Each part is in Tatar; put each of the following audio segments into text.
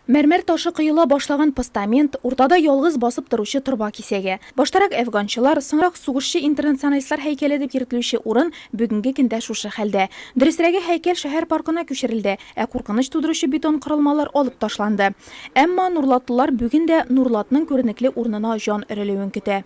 Мәрмәр ташы коела башлаган постамент, уртада ялгыз басып торучы торба кисәге. Баштарак әфганчылар, соңрак сугышчы-интернационалистлар һәйкәле дип йөртелүче урын бүгенге көндә шушы хәлдә. Дөресрәге, һәйкәл шәһәр паркына күчерелде, ә куркыныч тудыручы бетон корылмалар алып ташланды. Әмма нурлатлылар бүген дә Нурлатның күренекле урынына җан өрелүен көтә.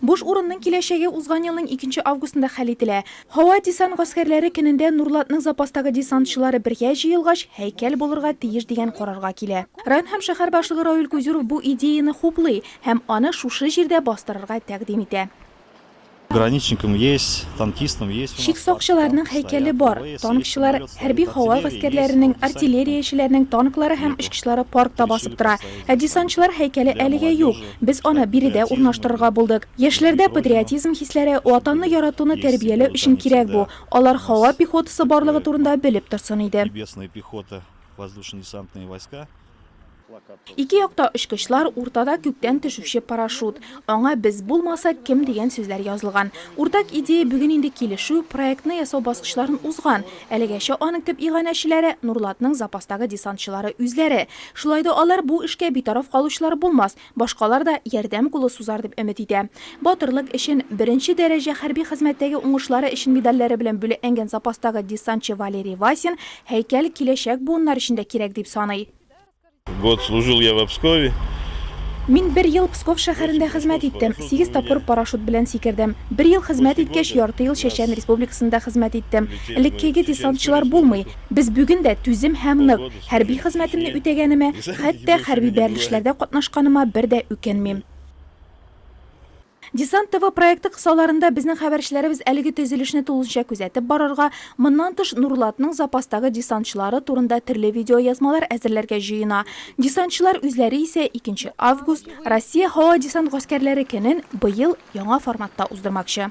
Буш урынның киләчәге узган елның икенче августында хәл ителә. Һава десант гаскәрләре көнендә Нурлатның запастагы десантчылары бергә җыелгач, һәйкәл булырга тиеш дигән карарга килә. Район һәм шәһәр башлыгы Равил Кузюров бу идеяны хуплый һәм аны шушы җирдә бастырырга тәкъдим итә. Пограничникым есть, танкистым есть у нас. Чик сакчыларының һәйкәле бар, танкчылар, хәрби-һава гаскәрләренең, артиллериячеләрнең танклары һәм очкычлары паркта басып тора. Ә десантчылар һәйкәле әлегә юк. Без аны биредә урнаштырырга булдык. Яшьләрдә патриотизм хисләре, Ватанны яратуны тәрбияләү өчен кирәк бу. Алар һава пехотасы барлыгы турында белеп торсын иде. Ике якта очкычлар, уртада күктән төшүче парашют. Аңа без булмасак, кем дигән сүзләр язылган. Уртак идея бүген инде килешү, проектны ясау баскычларын узган. Әлегәчә аның төп иганәчеләре, Нурлатның запастагы десантчылары үзләре. Шулай да алар бу эшкә битараф калучылар булмас, башкалар да ярдәм кулы сузар дип өмет итә. Батырлык өчен, беренче дәрәҗә хәрби хезмәттәге уңышлары өчен медальләре белән бүләкләнгән запастагы десантчы Валерий Васин һәйкәл киләчәк буыннар өчен дә кирәк дип саный. Год служил я в Обскове. Мин бер ел Псков шәһәрендә хезмәт иттем. Сигез тапкыр парашют белән сикердем. Бер ел хезмәт иткәч, ярты ел Чәчән Республикасында хезмәт иттем. Элеккеге десантчылар булмый. Без бүген дә түзем һәм нык. Хәрби хезмәтемне үтәгәнемә, хәтта хәрби бәрелешләрдә катнашканыма бер дә үкенмим. Десант ТВ проекты кысаларында безнең хәбәрчеләребез әлеге төзелешне тулысынча күзәтеп барырга, моннан тыш Нурлатның запастагы десантчылары турында төрле видеоязмалар әзерләргә җыена. Десантчылар үзләре исә икенче август, Россия һава-десант гаскәрләре көнен быел яңа форматта уздырмакчы.